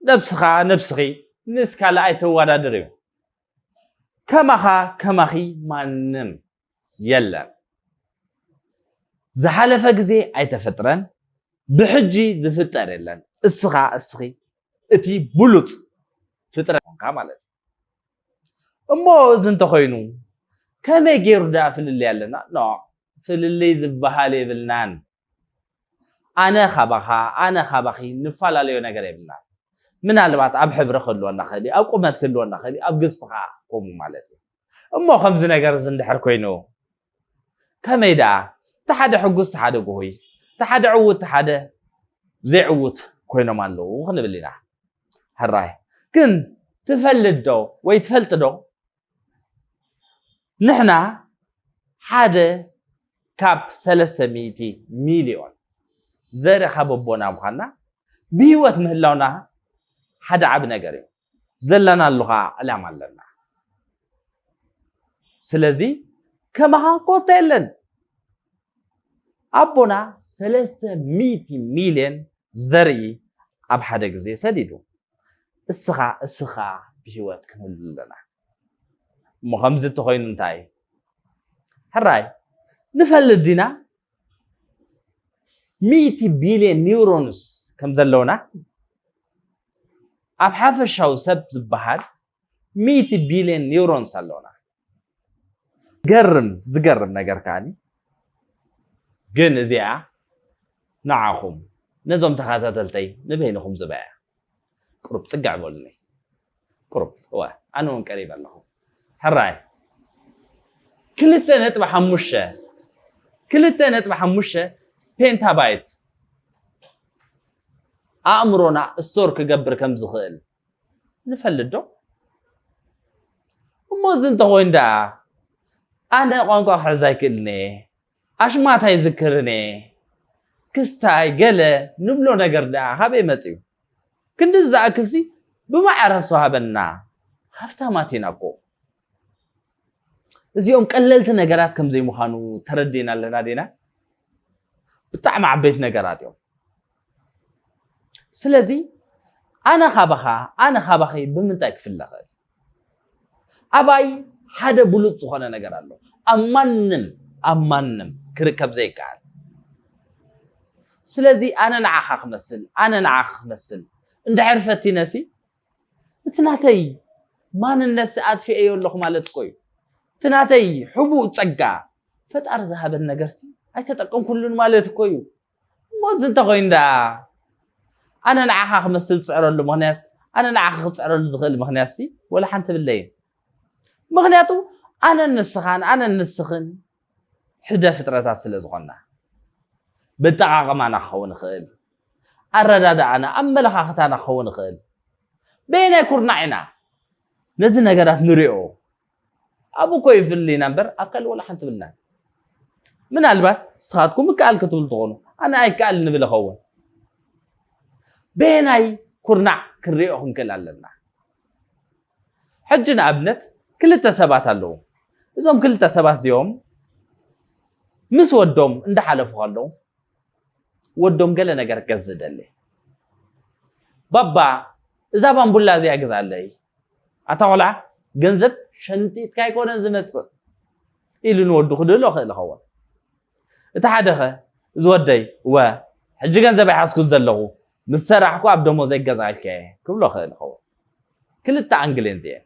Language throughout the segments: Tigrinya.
ነብስኻ ነብስኺ ምስ ካልእ ኣይተዋዳድሪ ከማኻ ከማኺ ማንም የለን ዝሓለፈ ግዜ ኣይተፈጥረን ብሕጂ ዝፍጠር የለን እስኻ እስኺ እቲ ብሉጽ ፍጥረት ኮንካ ማለት እዩ እሞ እዚ እንተኾይኑ ከመይ ገይሩ ደኣ ፍልልይ ኣለና ኖ ፍልልይ ዝበሃል የብልናን ኣነ ካባኻ ኣነ ካባኺ ንፈላለዮ ነገር የብልናን። ምናልባት ኣብ ሕብሪ ክህልወና ይኽእል እዩ፣ ኣብ ቁመት ክህልወና ይኽእል እዩ፣ ኣብ ግዝፊ ከኣ ከምኡ ማለት እዩ። እሞ ከምዚ ነገር'ዚ እንድሕር ኮይኑ ከመይ ደኣ እቲ ሓደ ሕጉስ እቲ ሓደ ጉሁይ፣ እቲ ሓደ ዕዉት እቲ ሓደ ዘይዕዉት ኮይኖም ኣለዉ ክንብል ኢና። ሕራይ ግን ትፈልጥ ዶ ወይ ትፈልጢ ዶ ንሕና ሓደ ካብ ሰለስተ ሚእቲ ሚልዮን ዘርኢ ካብ ኣቦና ምዃንና ብህይወት ምህላውና ሓደ ዓቢ ነገር እዩ ዘለናሉ ከዓ ዕላማ ኣለና ስለዚ ከማኻ ኮታ የለን ኣቦና ሰለስተ ሚእቲ ሚልዮን ዘርኢ ኣብ ሓደ ግዜ ሰዲዱ። እስኻ እስኺ ከኣ ብህይወት ክንህሉ ኣለና። እሞ ከምዚ እንተኾይኑ እንታይ ሕራይ ንፈልጥ ዲና? ሚእቲ ቢልዮን ኒውሮንስ ከም ዘለውና ኣብ ሓፈሻዊ ሰብ ዝበሃል ሚእቲ ቢልዮን ኒውሮንስ ኣለውና። ገርም ዝገርም ነገር ከዓኒ ግን እዚኣ ንዓኹም ነዞም ተኸታተልተይ ንበይንኹም ዝበያ ቁሩብ ፅግዕ በሉኒ ቁሩብ እወ ኣነ እውን ቀሪበ ኣለኹ ሕራይ ክልተ ነጥቢ ሓሙሽተ ክልተ ነጥቢ ሓሙሽተ ፔንታባይት ኣእምሮና ስቶር ክገብር ከም ዝኽእል ንፈልጥ ዶ እሞ እዚ እንተኾይኑ ደኣ ኣነ ቋንቋ ክሕዝ ኣይክእልን እየ ኣሽማት ኣይዝክርን እየ ክስታይ ገለ ንብሎ ነገር ደኣ ካበይ መፅዩ ክንዲ ዝኣክልሲ ብማዕረ ዝተዋህበና ሃፍታማት ኢና እኮ እዚኦም ቀለልቲ ነገራት ከም ዘይምዃኑ ተረዲና ኣለና ዲና? ብጣዕሚ ዓበይቲ ነገራት እዮም። ስለዚ ኣነ ካባኻ ኣነ ካባኺ ብምንታይ ክፍለ ኽእል? ኣባይ ሓደ ብሉፅ ዝኾነ ነገር ኣሎ ኣብ ማንም ኣብ ማንም ክርከብ ዘይከኣል ስለዚ ኣነ ንዓኻ ክመስል ኣነ ንዓኺ ክመስል እንድሕር ፈቲነሲ እቲ ናተይ ማንነትሲ ኣጥፊኤዮ ኣለኹ ማለት እኮ እዩ። እቲ ናተይ ሕቡእ ጸጋ፣ ፈጣሪ ዝሃበኒ ነገርሲ ኣይተጠቀምኩሉን ማለት እኮ እዩ። እሞ እዚ እንተኾይኑ ደኣ ኣነ ንዓኻ ክመስል ዝጽዕረሉ ምኽንያት ኣነ ንዓኻ ክጽዕረሉ ዝኽእል ምኽንያትሲ ወላ ሓንቲ የብለይን። ምኽንያቱ ኣነን ንስኻን ኣነን ንስኽን ሕደ ፍጥረታት ስለ ዝኾንና፣ በጠቓቕማና ክኸውን ይኽእል፣ ኣረዳድኣና፣ ኣመለኻኽታና ክኸውን ይኽእል፣ በየናይ ኩርናዕ ኢና ነዚ ነገራት ንሪኦ? ኣብኡ እኮ ይፍልይና እምበር ኣብ ካልእ ወላ ሓንቲ ብልናን። ምናልባት ንስኻትኩም ይከኣል ክትብሉ ትኾኑ፣ ኣነ ኣይከኣልን ንብል ይኸውን። በየናይ ኩርናዕ ክንሪኦ ክንክእል ኣለና? ሕጂ ንኣብነት ክልተ ሰባት ኣለዉ እዞም ክልተ ሰባት እዚኦም ምስ ወዶም እንዳሓለፉ ከለዉ ወዶም ገለ ነገር ክገዝእ ደሊ ባባ እዛ ባምቡላ እዚኣ ግዝኣለይ ኣታ ቆልዓ ገንዘብ ሸንጢጥካ ኣይኮነን ዝመፅእ ኢሉ ንወዱ ክድህሎ ክእል ይኸውን እቲ ሓደኸ እዚ ወደይ ወ ሕጂ ገንዘብ ኣይሓዝኩን ዘለኹ ምስ ሰራሕኩ ኣብ ደሞዘይ ክገዝኣልኪ እየ ክብሎ እኽእል እኸውን። ክልተ ኣንግል እየን እዚኤን።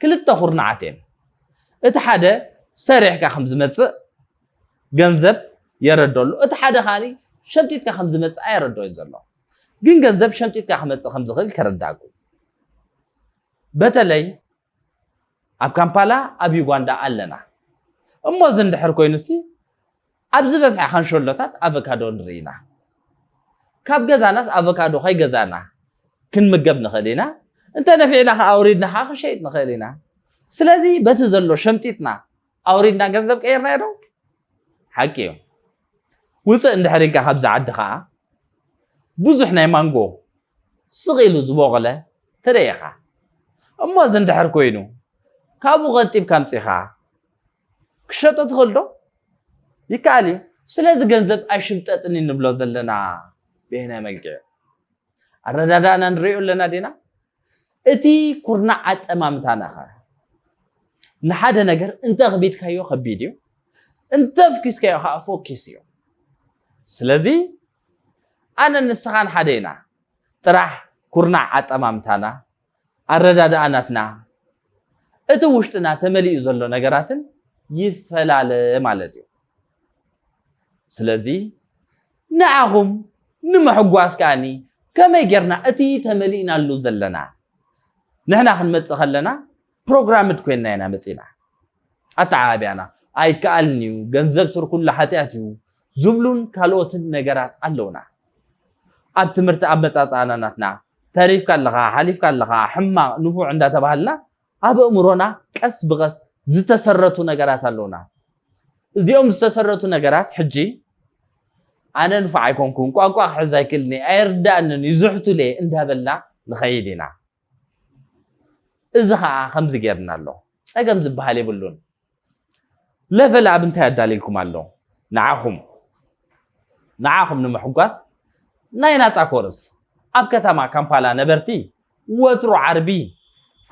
ክልተ ኩርናዓት እየን። እቲ ሓደ ሰሪሕካ ከም ዝመጽእ ገንዘብ የረዶ ኣሎ። እቲ ሓደ ከኣ ሸምጢጥካ ከም ዝመጽእ ኣየረድኦን ዘሎ። ግን ገንዘብ ሸምጢጥካ ክመጽእ ከም ዝኽእል ከረዳእኩ። በተለይ ኣብ ካምፓላ ኣብ ዩጋንዳ ኣለና እሞ እዚ እንድሕር ኮይኑሲ ኣብ ዝበዝሐ ካንሸሎታት ኣቮካዶ ንርኢ ኢና ካብ ገዛናስ ኣቮካዶ ከይገዛና ክንምገብ ንኽእል ኢና እንተ ነፊዕና ከዓ ኣውሪድና ከዓ ክንሸይጥ ንኽእል ኢና ስለዚ በቲ ዘሎ ሸምጢጥና ኣውሪድና ገንዘብ ቀይርናዮ ዶ ሓቂ እዮም ውፅእ እንድሕር ኢልካ ካብዚ ዓዲ ከዓ ብዙሕ ናይ ማንጎ ስቕ ኢሉ ዝበቖለ ትርኢ ኢኻ እሞ እዚ እንድሕር ኮይኑ ካብኡ ቀንጢብካ ኣምፂኻ ክሸጦ ትኽእል ዶ ይከኣል እዩ ስለዚ ገንዘብ ኣይሽምጠጥን ንብሎ ዘለና ብየናይ መልክዕ ኣረዳዳእና ንሪኦ ኣለና ዲና? እቲ ኩርናዕ ኣጠማምታና ኸ ንሓደ ነገር እንተ ኣኽቢድካዮ ከቢድ እዩ፣ እንተ ኣፍኪስካዮ ከዓ ፎኪስ እዩ። ስለዚ ኣነ ንስኻን ሓደ ኢና፣ ጥራሕ ኩርናዕ ኣጠማምታና ኣረዳድኣ ናትና እቲ ውሽጥና ተመሊኡ ዘሎ ነገራትን ይፈላለ ማለት እዩ ስለዚ ንዓኹም ንምሕጓስ ከኣኒ ከመይ ጌርና እቲ ተመሊእናሉ ዘለና ንሕና ክንመፅእ ከለና ፕሮግራምድ ኮይንና ኢና መፂና ኣተዓባቢያና ኣይከኣልን እዩ ገንዘብ ስር ኩሉ ሓጢኣት እዩ ዝብሉን ካልኦትን ነገራት ኣለውና። ኣብ ትምህርቲ ኣመጻጽኣና ናትና ተሪፍካ ኣለኻ ሓሊፍካ ኣለኻ ሕማቕ ንፉዕ እንዳተባሃልና ኣብ እእምሮና ቀስ ብቐስ ዝተሰረቱ ነገራት ኣለውና። እዚኦም ዝተሰረቱ ነገራት ሕጂ ኣነ ንፉዕ ኣይኮንኩን ቋንቋ ክሕዝ ኣይክእልኒ ኣይርዳእንን እዩ ዝሕቱለ እንዳበልና ንኸይድ ኢና። እዚ ከዓ ከምዚ ጌርና ኣሎ። ጸገም ዝበሃል የብሉን። ለቨል ኣብ እንታይ ኣዳልይልኩም ኣሎ ንዓኹም ንዓኹም ንምሕጓስ ናይ ናጻ ኮርስ ኣብ ከተማ ካምፓላ ነበርቲ ወትሩ ዓርቢ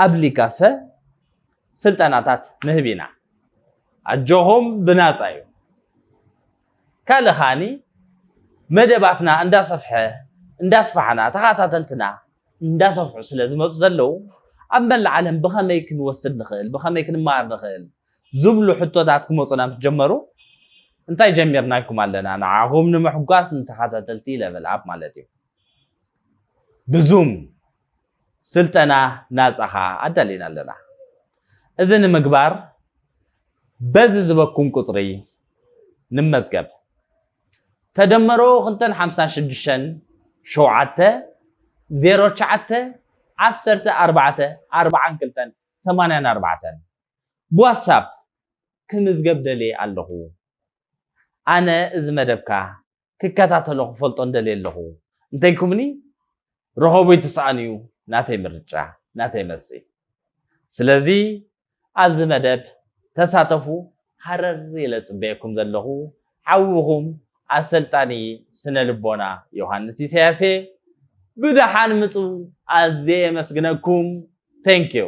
ኣብ ሊካፈ ስልጠናታት ንህብ ኢና ኣጆኹም ብናጻ እዩ ካልእ ከዓኒ መደባትና እንዳሰፍሐ እንዳስፋሕና ተኸታተልትና እንዳሰፍሑ ስለ ዝመፁ ዘለዉ ኣብ መላእ ዓለም ብኸመይ ክንወስድ ንኽእል ብኸመይ ክንመሃር ንኽእል ዝብሉ ሕቶታት ክመፁና ምስ ጀመሩ እንታይ ጀሚርና ኢልኩም ኣለና ንዓኹም ንምሕጓስ ንተኸታተልቲ ለቨል ኣፕ ማለት እዩ ብዙም ስልጠና ናፃ ከኣ ኣዳሊና ኣለና። እዚ ንምግባር በዚ ዝበኩም ቁፅሪ ንመዝገብ። ተደመሮ ክልተን ሓምሳን ሽዱሽተን ሸውዓተ ዜሮ ትሽዓተ ዓሰርተ ኣርባዕተ ኣርብዓን ክልተን ሰማንያን ኣርባዕተን ብዋትሳፕ ክምዝገብ ደልየ ኣለኹ ኣነ እዚ መደብካ ክከታተሎ ክፈልጦን ደልየ ኣለኹ እንተይልኩምኒ ርኸቡይ ትስኣኑ እዩ ናተይ ምርጫ ናተይ መልሲ ስለዚ ኣብዚ መደብ ተሳተፉ ሃረር ኢለ ጽበየኩም ዘለኹ ሓውኹም ኣሰልጣኒ ስነ ልቦና ዮሃንስ ኢሳያስ እየ ብደሓን ምጹ ኣዝየ የመስግነኩም ቴንኪዩ